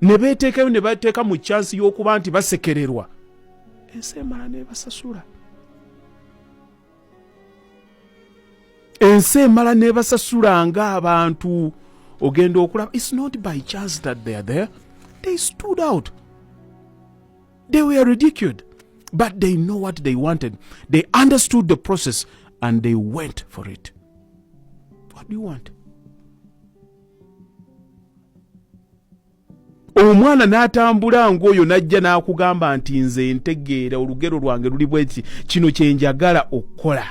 ne beeteekayo ne bateeka mu kyansi y'okuba nti basekererwa ensi emala nebasasula ensi emala nebasasula nga abantu ogenda okulaba its not by chance that they are there they stood out they were ridiculed but they know what they wanted they understood the process and they went for it what do you want omwana n'atambula ng'oyo n'ajja n'akugamba nti nze ntegeera olugero lwange luli bweki kino kye njagala okukola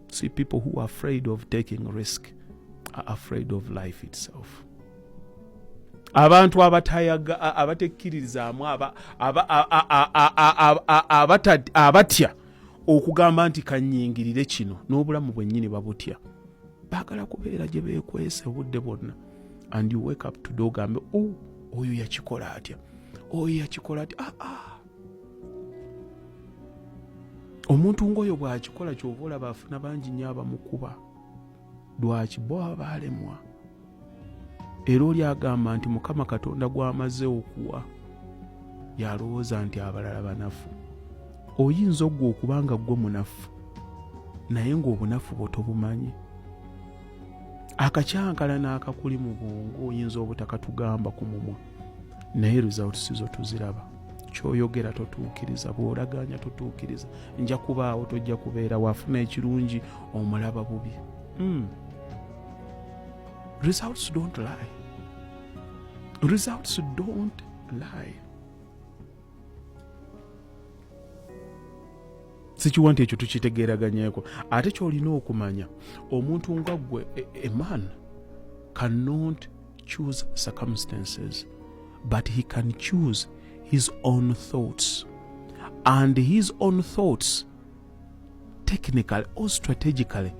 see people who are afraid of taking risk are afraid of life itself abantu abatayaga abatekkiririzaamu abatya okugamba nti kanyingirire kino n'obulamu bwennyini babutya baagala kubeera gye beekwese obudde bwonna and you wake up today ogambe o oh, oyo yakikola atya oyo yakikola atya aa ah, ah. omuntu ng'oyo bw'akikola kyova olaba afuna bangi nyo abamukuba lwaki bo baba baalemwa era oli agamba nti mukama katonda gw'amaze okuwa yalowooza nti abalala banafu oyinza oggwa okuba nga ggwe munafu naye ng'obunafu bwo tobumanyi akakyankala n'akakuli mu bwongo oyinza obutakatugamba ku mumwa naye results zo tuziraba kyoyogera totuukiriza bwolaganya totuukiriza nja kubaawo tojja kubeera wafuna ekirungi omulaba bubi mm. results don't lie results don't lie sikiwa nti ekyo tukitegeeraganyeko ate kyolina okumanya omuntu nga gwe eman e, cannot choose circumstances but he can choose his own thoughts and his own thoughts technically or strategically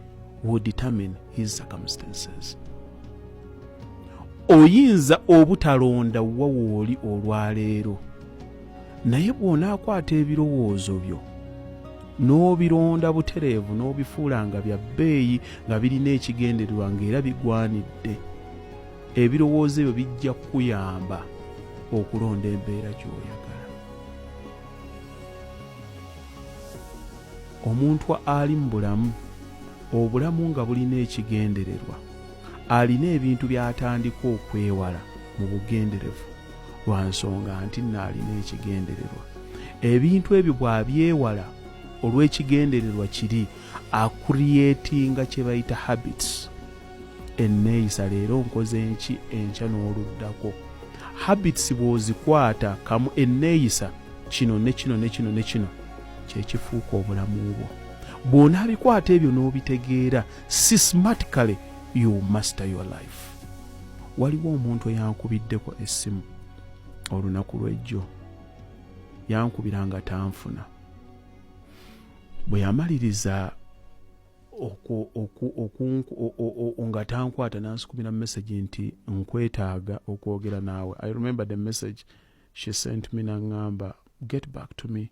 will determine his circumstances oyinza obutalonda wa wooli olwaleero naye bw'onaakwata ebirowoozo byo n'obironda butereevu n'obifuula nga bya bbeeyi nga birina ekigendererwa ng'era bigwanidde ebirowoozo ebyo bijja kukuyamba okulonda embeera gy'oyagala omuntu ali mu bulamu obulamu nga bulina ekigendererwa alina ebintu by'atandika okwewala mu bugenderevu lwa nsonga nti nno alina ekigendererwa ebintu ebyo bw'abyewala olw'ekigendererwa kiri akuriyetinga kye bayita habits enneeyisa leero nkoze enki enkya n'oluddako habits bw'ozikwata kamu enneeyisa kino ne kino ne kino ne kino kyekifuuka obulamu bwo bw'onaabikwata ebyo n'obitegeera systematically you master your life waliwo omuntu eyankubiddeko essimu olunaku lw'ejjo yankubira nga tanfuna bwe yamaliriza nga tankwata nansukumira message nti nkwetaaga okwogera naawe i remember the message she sent me nangamba get back to me